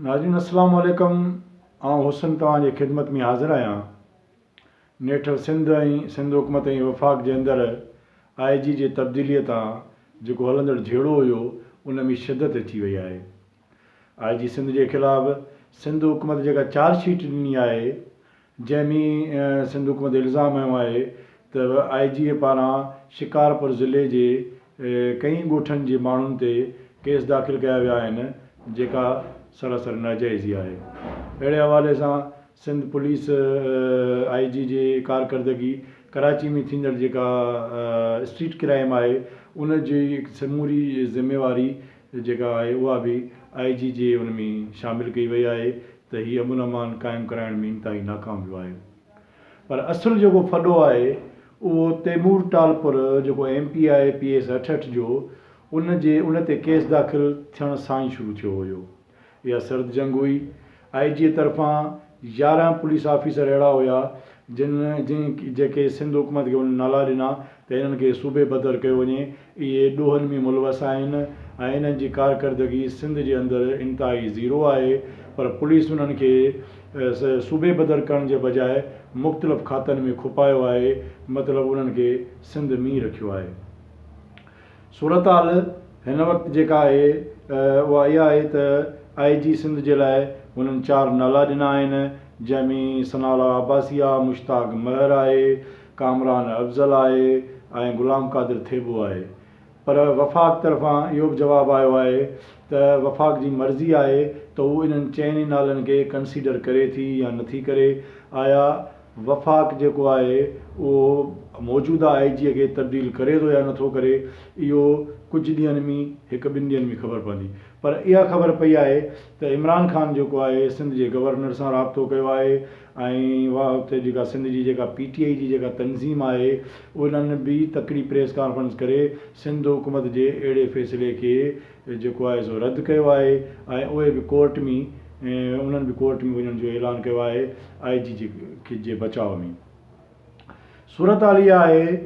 ناظرين السلام عليڪم آئون حسن توهان جي خدمت ۾ حاضر آهيان نيٺ سنڌ ۽ سنڌ حڪومت ۽ وفاق جي اندر آء جي جي تبديلي تان جيڪو هلندڙ جهيڙو هيو ان ۾ شدت اچي وئي آهي آء جي سنڌ جي خلاف سنڌ حڪومت جيڪا چارج شيٽ ڏني آهي جنهن ۾ سنڌ حڪومت الزام هنيو آهي ته آء جي اي پاران شڪارپور ضلعي جي ڪئين ڳوٺن جي ماڻهن تي ڪيس داخل ڪيا ويا آهن جيڪا سراسر ناجائزي آهي اهڙي حوالي سان سنڌ پوليس آء جي جي ڪارڪردگي ڪراچي ۾ ٿيندڙ جيڪا اسٽريٽ ڪرائيم آهي ان جي سموري ذميواري جيڪا آهي اها به آء جي جي ان ۾ شامل ڪئي وئي آهي ته هي امن امان قائم ڪرائڻ ۾ انتهائي ناڪام ويو آهي پر اصل جيڪو ڦڏو آهي اهو تيمور ٽالپر جيڪو M P I P S اٺهٺ جو ان جي ان تي ڪيس داخل ٿيڻ سان ئي شروع ٿيو هيو اها سرد جنگ هئي آء جي طرفان يارهن پوليس آفيسر اهڙا هيا جن جن جيڪي سنڌ حڪومت کي ان نالا ڏنا ته انهن کي صوبي بدر ڪيو وڃي، اهي ڏوهن ۾ ملوث آهن ۽ انهن جي ڪارڪردگي سنڌ جي اندر انتهائي زيرو آهي پر پوليس انهن کي صوبي بدر ڪرڻ جي بجاء مختلف کاتن ۾ کپايو آهي مطلب انهن کي سنڌ مين رکيو آهي صورتحال هن وقت جيڪا آهي اها اها آهي ته آء جي سنڌ جي لاء هنن چار نالا ڏنا آهن جنهن ۾ ثناء الله عباسي آهي مشتاق مهر آهي ڪامران افضل آهي ۽ غلام قادر ٿيٻو آهي پر وفاق طرفان اهو به جواب آيو آهي ته وفاق جي مرضي آهي ته هو انهن چئن ئي نالن کي ڪنسيڊر ڪري ٿي يا نٿي ڪري آيا وفاق جيڪو آهي اهو موجوده آء جي کي تبديل ڪري ٿو يا نٿو ڪري اهو ڪجهه ڏينهن ۾ هڪ ٻن ڏينهن ۾ خبر پوندي پر اها خبر پئي آهي ته عمران خان جيڪو آهي سنڌ جي گورنر سان رابطو ڪيو آهي ۽ اها اتي جيڪا سنڌ جي جيڪا پي ٽي آئي جي جيڪا تنظيم آهي انهن به تڪڙي پريس ڪانفرنس ڪري سنڌ حڪومت جي اهڙي فيصلي کي جيڪو آهي سو رد ڪيو آهي ۽ اهي به ڪورٽ ۾ انهن به ڪورٽ ۾ وڃڻ جو اعلان ڪيو آهي آئي جي جي کي جي بچاء ۾ صورتحال اها آهي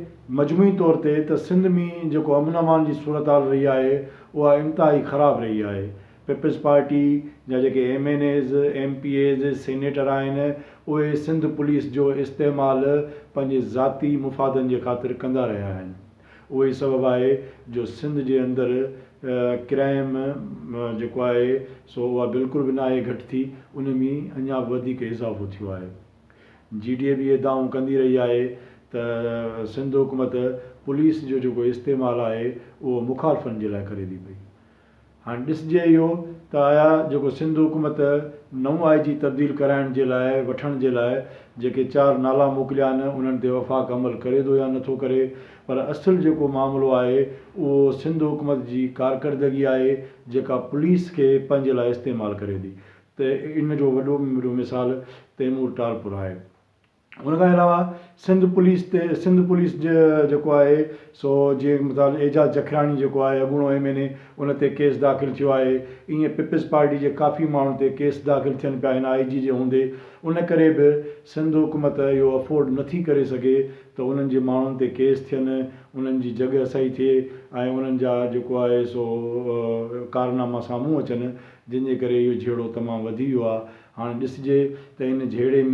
مجموعي طور تي ته سنڌ ۾ جيڪو امن امان جي صورتحال رهي آهي اها انتهائي خراب رهي آهي پيپلز پارٽي جا جيڪي M N As, M P As, senator آهن اهي سنڌ پوليس جو استعمال پنهنجي ذاتي مفادن جي خاطر ڪندا رهيا آهن اهو ئي سبب آهي جو سنڌ جي اندر ڪرائيم جيڪو آهي سو اها بلڪل به ناهي گهٽ ٿي ان ۾ اڃا به وڌيڪ اضافو ٿيو آهي جي ڊي اي به اهي دانهون ڪندي رهي آهي ته سنڌ حڪومت پوليس جو جيڪو استعمال آهي اهو مخالفن جي لاء ڪري ٿي پئي هاڻ ڏسجي اهو ته آيا جيڪو سنڌ حڪومت نئون آء جي تبديل ڪرائڻ جي لاء وٺڻ جي لاء جيڪي چار نالا موڪليا آهن انهن تي وفاق عمل ڪري ٿو يا نٿو ڪري پر اصل جيڪو معاملو آهي اهو سنڌ حڪومت جي ڪارڪردگي آهي جيڪا پوليس کي پنهنجي لاء استعمال ڪري ٿي ته ان جو وڏو ۾ وڏو مثال تيمور ٽالپر آهي. ان کان علاوه سنڌ پوليس تي سنڌ پوليس جي جيڪو آهي سو جيئن مثال اعجاز جکياڻي جيڪو آهي اڳوڻو ايم اين اي ان تي ڪيس داخل ٿيو آهي ائين پيپلز پارٽي جي ڪافي ماڻهن تي ڪيس داخل ٿين پيا هن آئي جي جي هوندي ان ڪري به سنڌ حڪومت اهو افورڊ نٿي ڪري سگهي ته انهن جي ماڻهن تي ڪيس ٿين انهن جي جڳهه سهي ٿئي ۽ انهن جا جيڪو آهي سو ڪارناما سامهون اچن جنهن جي ڪري اهو جهيڙو تمام وڌي ويو آهي هاڻ ڏسجي ته ان جهيڙي ۾